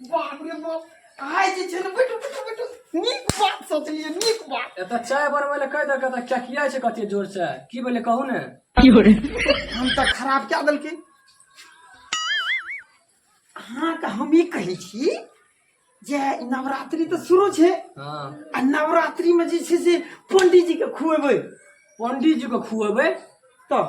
बाप रे बाप आइ जे छै ने बैठू बैठू बैठू नीक बात सोचलिए नीक बात एतऽ चाय बनबै लए कहि देलकै तऽ चकिया छै कते जोर से की भेलै कहू ने हम तऽ खराब कए देलकै अहाँके हम ई कहै छी जे नवरात्रि तऽ शुरू छै हाँ। आ नवरात्रिमे जे छै से पंडीजीके खुएबै पंडीजीके खुएबै तऽ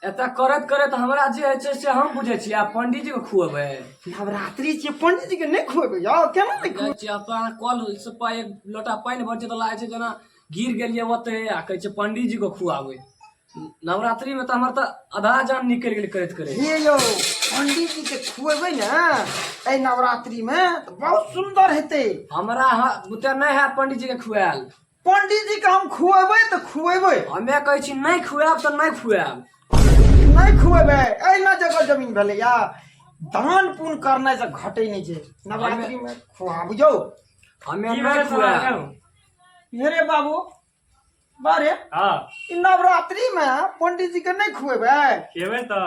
एतऽ करत करत हमरा जे होइ छै से हम बुझै छी आब पंडीजी के खुएबै नवरात्रि छियै पंडीजी के नहि खुएबै यौ केना नहि जाइ छी आब अहाँ कल से पा- एक लोटा पानि भर छै तऽ लागै छै जेना गिर गेलियै ओते आ कहै छै पंडीजी के खुआबै नवरात्रि में तऽ हमर तऽ आधा जान निकलि गेल करैत करैत हे यौ पंडीजी के खुएबै ने एहि नवरात्रि मे तऽ बहुत सुन्दर हेतै हमरा ह- बुते नहि है पंडीजी के खुआल पंडित जी के हम खुएबै तऽ खुएबै हमे कहै छी नहि खुआएब तऽ नहि खुआएब नहि खुएबै एहिना जगह जमीन भेलैया दान पुण्य करनाइ से घटै नहि छै नवरात्रि में खुआ बुझौ हमे नहि खुआएब हेरे बाबू बारे हँ ई नवरात्रि में पंडित जी के नहि खुएबै खेबै तऽ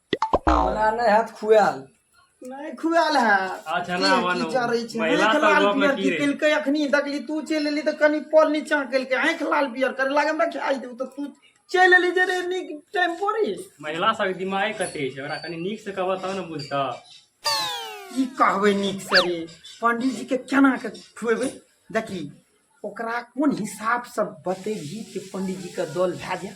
हमरा नहि हैत खुआएल नहि खुआल है अच्छा ना आवा ना चढ़ै छै महिला आँखि लाल तलवा में पियर की की रही केलकै अखनी देखली तू चलि एली तऽ कनि पल नीचा केलकै आँखि लाल पियर करे लागे हमरा खाइ देब तऽ तू चलि एली जे रे नीक टाइम पर ही। महिला सब दिमाग कते छै ओकरा कनी नीक से कहबा तब ने बुझता की कहबै नीक से रे पंडित जी के केना के खुएबै देखी ओकरा कोन हिसाब से बतेबही कि पंडित जी के दल भए जाए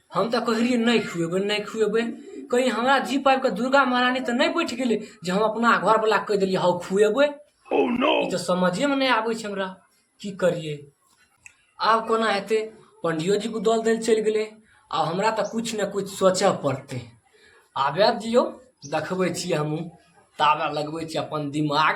हम तऽ कहै रहियै नहि खुएबै नहि खुएबै कहीँ हमरा जीप आबि कऽ दुर्गा महारानी तऽ नहि बैठ गेलै जे हम अपना घरवला कहि देलियै हौ खुएबै oh, ई तऽ समझेमे नहि आबै छै हमरा की करियै आब कोना हेतै पंडियोजीके उदल दै चलि गेलै आ हमरा तऽ किछु ने किछु सोचय पड़तै आबय दियौ देखबै छी हमहूँ ताबे लगबै छी अपन दिमाग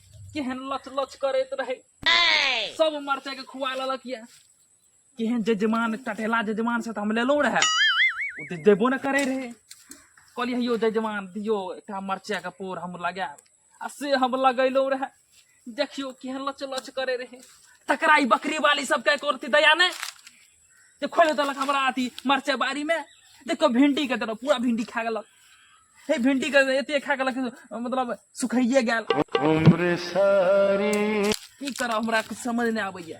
केहन लच लच करैत रहे सब मरचाई के खुआ ललक ये केहन जजमान टटेला जजमान से तो हम लेलो रहे ओ तो देबो न करे रहे कहलिए यो जजमान दियो एकटा मरचाई के पोर हम लगाएब आ से हम लगैलो रहे देखियो केहन लच लच करे रहे तकरा ई बकरी वाली सब के करती दया ने जे खोल देलक हमरा अथी मरचा बाड़ी में देखो भिंडी के तरफ पूरा भिंडी खा गेलक हे भिंडी के एते खा गेलक मतलब सुखाइए गेल उम्र सारी की करब हमरा कुछ समझ नहीं आबैया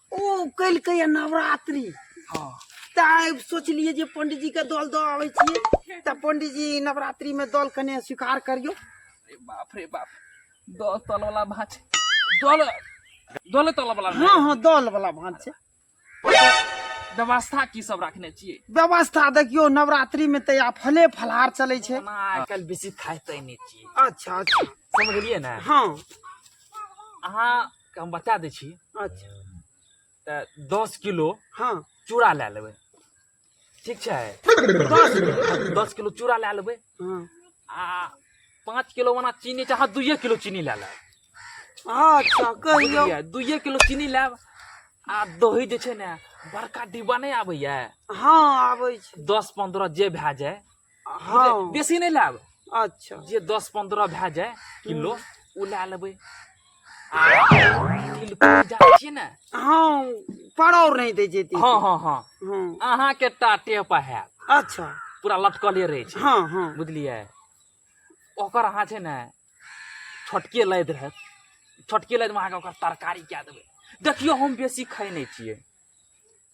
ओ कलकै ये नवरात्रि हाँ तऽ आइ सोचलियै जे पंडीजीके दल दऽ आबै छियै तऽ पंडीजी नवरात्रिमे दल कने स्वीकार करियौ अरे बाप रे बाप दल तल वाला भांज दल दल तल वाला हाँ हाँ दल वाला भाँज छै व्यवस्था की सब रखने छियै व्यवस्था देखियौ नवरात्रिमे तऽ आब फले फलहार चलै छै ओना आइ काल्हि बेसी खाइते नहि छियै अच्छा अच्छा समझलियै ने हाँ अहाँ के हम बता दै छी अच्छा तऽ दस किलो हँ चूड़ा लए लेबै ठीक छै दस गो। दस किलो चूड़ा लए लेबै हँ आ पाँच किलो ओना चीनी चाहे दुइए किलो चीनी लए लेब अच्छा कहियौ बुझलियै दुइए किलो चीनी लेब आ दही जे छै ने बड़का डिब्बा नहि आबैए हँ आबै छै दस पन्द्रह जे भए जाए हँ बुझलियै? बेसी नहि लायब अच्छा जे दस पंद्रह भए जाए किलो ओ लए लेबै आ तिलकोर जानै छियै ने हँ पड़ौर नहीं दे जेती हँ हँ हँ हँ अहाँके टाटे पर हैत अच्छा पूरा लटकले रहै छै हँ हँ बुझलियै ओकर अहाँ छै ने छोटके लैत रहत छोटके लैतमे अहाँके ओकर तरकारी कए देबै देखियौ हम बेसी खाइ नहि छियै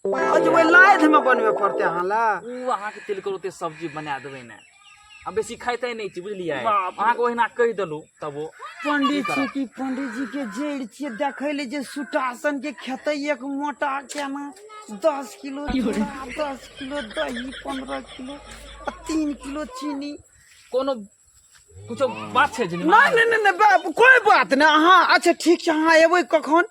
आज ओहि लाइध में बनबे पड़ते अहाँ ला ओ अहाँके तिलकर ओते सब्जी बना देबै ने आ बेसी खाइते नहि छी बुझलियै बाप रे। अहाँके ओहिना कहि देलहुँ तब ओ पंडित जी की पंडित जी के जड़ छिए देखे ले जे सुटासन के खेते एक मोटा केना दस किलो चूड़ा दस किलो दही पंद्रह किलो आ तीन किलो चीनी कोनो कुछो बात छै जे नहि नहि नहि नहि बाप कोई बात नहि अहाँ अच्छा ठीक छै अहाँ एबै कखन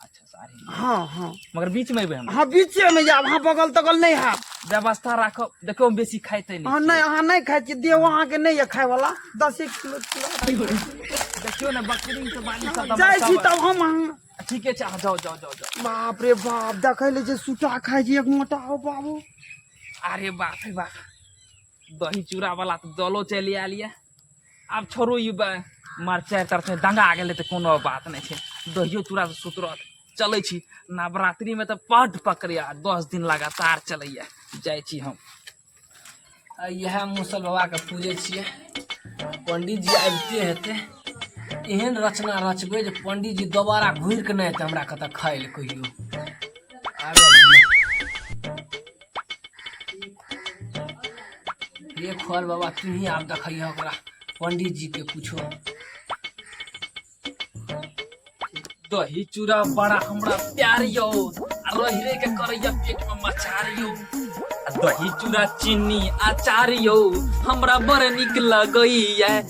अच्छा सारे हाँ हाँ मगर बीच में एबै हम हाँ बीच में जाब हाँ बगल तगल नहीं है व्यवस्था राखब देखो हम बेसी खाइते नहीं हाँ नहीं हाँ नहीं खाइ छी देह अहाँ के नहीं है खाय वाला दस एक किलो किलो देखियो ना बकरी के बाली सब हाँ, जाय छी तब हम हाँ। ठीक है चाह जाओ जाओ जाओ जाओ बाप रे बाप देखै ले जे सुटा खाइ छी एक मोटा हो बाबू अरे बाप रे बाप दही चूड़ा वाला तो दलो चली आलिया आब छोड़ू ई मार चारि तरफे दंगा गेलै तऽ कोनो बात नहि छै दहियो चूड़ा से सुतरत चलै छी नवरात्रिमे तऽ बड्ड पकड़ैया दस दिन लगातार चलैया जाइ छी हम इएह मुसल बाबाके पूजै छियै पंडीजी आबिते हेतै एहन रचना रचबै जे पंडीजी दोबारा घुरिके नहि हेतै हमरा कतऽ खाइ लए कहियो ये खोल बाबा तू ही आप देखिए ओकरा पंडित जी के कुछो दही चूड़ा बड़ा हमरा प्यार यो आ रही रही के करैया पेट में मचार यो आ दही चूड़ा चीनी अचार यो हमरा बड़ निक लगैया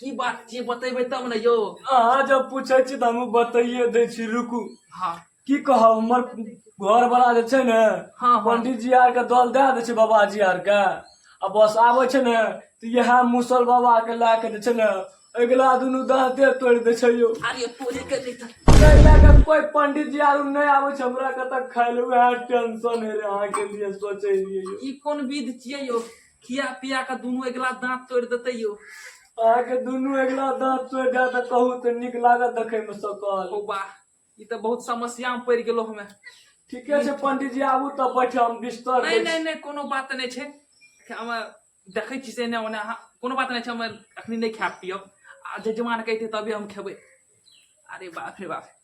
की बात छियै बतेबै तब ने यौ अहाँ जब पूछै छी तऽ हमहूँ बताइए दै छी रुकू हँ की कहब हमर घर वाला जे छै ने हँ, हँ। पंडित जी आर के दल दए दै छै बाबाजी आर के आ बस आबै छै ने तऽ इएह मुसल बाबा के लए के जे छै ने अगिला दुनू दाँते तोड़ि दै छै यौ अरे तोरे के नहि था ताहि लए के कोई पंडित जी आर नहि आबै छै हमरा कतऽ खाय ले उएह टेंशन है रे अहाँके लिए सोचे रहियै यौ ई कोन विध छियै यौ खिया पिया के दुनू अगिला दांत तोड़ देते यो अहाँ के दुनू अगिला दांत तोड़ दे त कहू त नीक लागत देखे में सकल ओ बा ई त बहुत समस्या में पड़ गेलो हमें ठीके छै पंडित जी आबू त बैठे हम बिस्तर नहीं नहीं नहीं कोनो बात नहीं छे हम देखे छी से ने ओने अहाँ कोनो बात नहीं छे हम अखनी नहीं खाब पियब आ जजमान कहते तभी हम खेबे अरे बाप रे बाप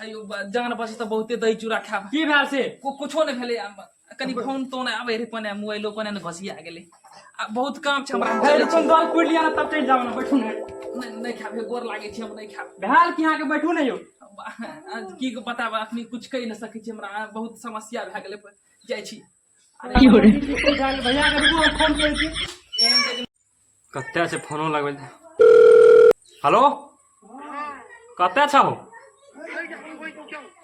अयो बा- जान बचे तऽ बहुते दही चूड़ा खायब की भेल से को- कुछो नहि भेलै आब कनि फोन तोन आबै रहै पने मोबाइलो पने ने घसिया गेलै आ बहुत काम छै हमरा हम हे चलै छी। अपन गल पुर लिया ना तब चल जाओ ना बैठू ना नहि नहि खायब हे, गोर लागै छै हम नहि खायब भेल कि यहाँ के बैठू नहीं हो आ- आ- की बताब अखनी कुछ कहि नहि सकै छी हमरा बहुत समस्या भए गेलै जाइ छी कते छै फोनो लगबै हेलो कते छौ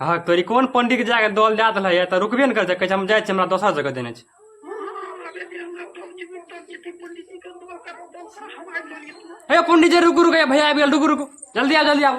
हाँ तोरी कोन पंडित जाके दल दए दिल है तो रुकबे ने कर जा हम जाए हमरा दोसर जगह देने छै हे पंडित जी रुकू रुकू भैया आबि गेल रुकू रुकू जल्दी आओ जल्दी आओ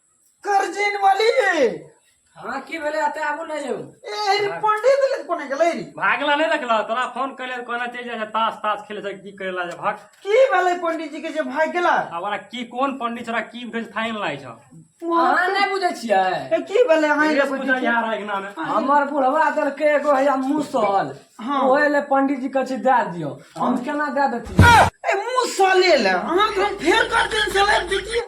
करजिन वाली हाँ की भेले अते आबू नहीं जाऊ ए रे पंडित ले कोने गेले रे भागला नहीं देखला तोरा फोन कइले कोना चल जाय तास तास खेले से की करेला जे भाग की भेले पंडित जी के जे भाग गेला हमरा की कोन पंडित छोरा की भेज फाइन लाई छ अहाँ नहीं बुझे छियै ए की भेले हां रे बुझा यार अगना में हमर बुढ़वा दल के एगो है मुसल हाँ। ओहे ले पंडित जी कछ दे दियो हम केना दे देती ए मुंह साले ले अहाँ के हम फेर कर दिन चले देखिए